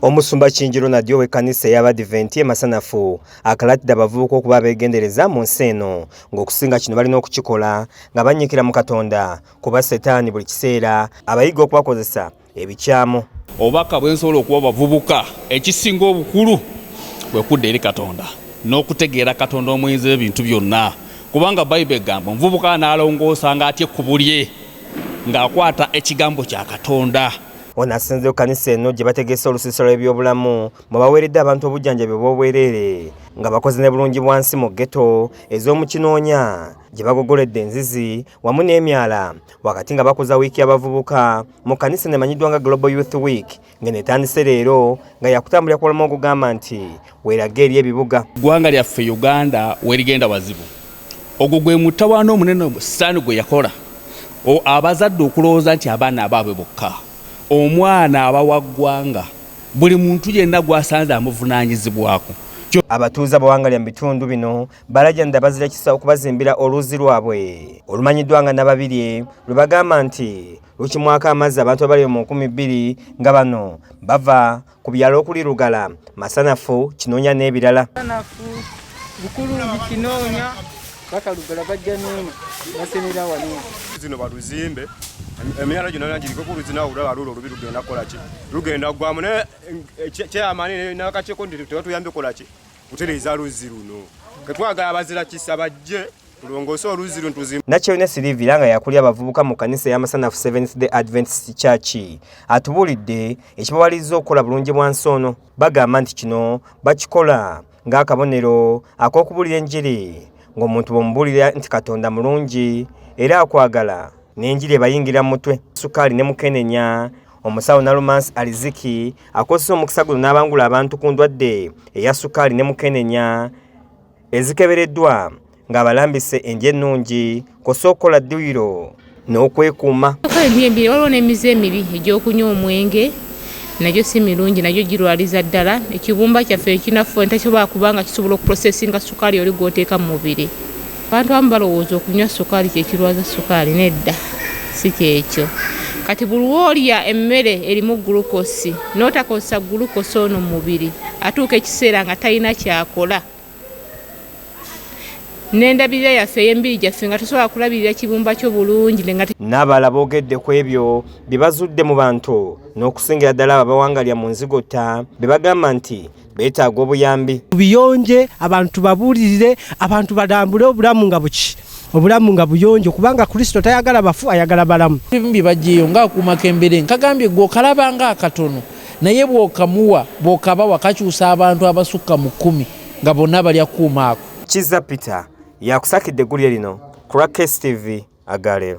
Omusumba Kingi Ronald ow'ekkanisa ey'Abadiventi e Masanafu akalaatidde abavubuka okuba abeegendereza mu nsi eno ng'okusinga kino balina okukikola nga bannyikira mu Katonda kuba Setaani buli kiseera abayiga okubakozesa ebikyamu. Obubaka bwe nsobola okuwa abavubuka ekisinga obukulu kwe kudda eri Katonda n'okutegeera Katonda omuyinza ebintu byonna kubanga Bayibuli egamba omuvubuka anaalongoosa ng'atya ekkubo lye ng'akwata ekigambo kya Katonda. ono asinze ku kanisa eno gye bategese olusiisira lw'ebyobulamu mwe baweeredde abantu obujjanjabi obw'obwereere nga bakoze ne bulungi bwansi mu ghetto ez'omu kinoonya gye bagogoledde enzizi wamu n'emyala wakati nga bakuza wiiki y'abavubuka mu kanisa nemanyiddwa nga global youth week ng'eno etandise leero nga yakutambulira ku bulamu ogugamba nti weerage eri ebibuga. Eggwanga lyaffe Uganda werigenda wazibu. Ogwo gwe mutawaana omunene Sitaani gwe yakola abazadde okulowooza nti abaana abaabwe bokka. Omwana aba wa ggwanga, buli muntu yenna gw'asanze amuvunaanyizibwako. Abatuuze abawangalya mu bitundu bino balajanira bazira kisa okubazimbira oluzzi lwabwe olumanyiddwa nga Nababirye lwe bagamba nti lukimwako amazzi abantu abali mu nkumi bbiri nga bano bava ku byalo okuli Lugala, Masanafu, Kinoonya n'ebirala. Masanafu, Bukulungi, Kinoonya, baka Lugala bajja n'eno basenera wano. Zino baluzimbe emyala gino nana giriko kuluzi nawe olaba lulo olubi lugenda kukola ki lugenda ggwamu naye eh, kyeyamani nakakyekondi tebatuyambye kola ki kutereeza luzzi luno ketwagala abazira kisa bajje tulongoose oluzzi luno tuzimu nakyeyune sirivira nga yakuli abavubuka mu kanisa eyamasanafu seventh day adventist church atubuulidde ekibawaliriza okukola bulungi bwa nsi ono bagamba nti kino bakikola ng'akabonero ak'okubuulira enjiri ng'omuntu bwemubuulira nti katonda mulungi era akwagala n'enjiri ebayingira mu mutwe sukaali ne mukenenya Omusawo Nalumansi Aliziki akozesa omukisa guno n'abangula abantu ku ndwadde eya sukaali ne mukenenya ezikebereddwa ng'abalambise enje ennungi kosa okukola dduyiro n'okwekuuma. Ebyembiri waliwo n'emize emibi egy'okunywa omwenge nagyo si mirungi nagyo girwaliza ddala ekibumba kyaffe ekinafu entakisobola kubanga kisobola okuprosesinga sukaali oli gw'oteeka mu mubiri. Abantu abamu balowooza okunywa sukaali kye kirwaza sukaali. Nedda, si kyekyo. Kati buli lw'olya emmere erimu gulukosi n'otakozesa gulukosi ono mu mubiri atuuka ekiseera nga talina kyakola. N'endabirira yaffe ey'emibiri gyaffe nga tosobola kulabirira kibumba kyo bulungi. N'abalala boogedde ku ebyo bye bazudde mu bantu n'okusingira ddala abo abawangalira mu nzigotta be bagamba nti beetaaga obuyambi buyonje abantu babuulirire abantu balambule obulamu nga buki obulamu nga buyonjo kubanga kristo tayagala bafu ayagala balamu bimbi bajeyo nga akuma kembere nkagambye gwe okalaba nga akatono naye bwokamuwa bwokaba wakakyusa abantu abasukka mu kumi nga bonna bali akuuma ako kiza peter yakusakidde eggulire lino ku lwa kstv agaleero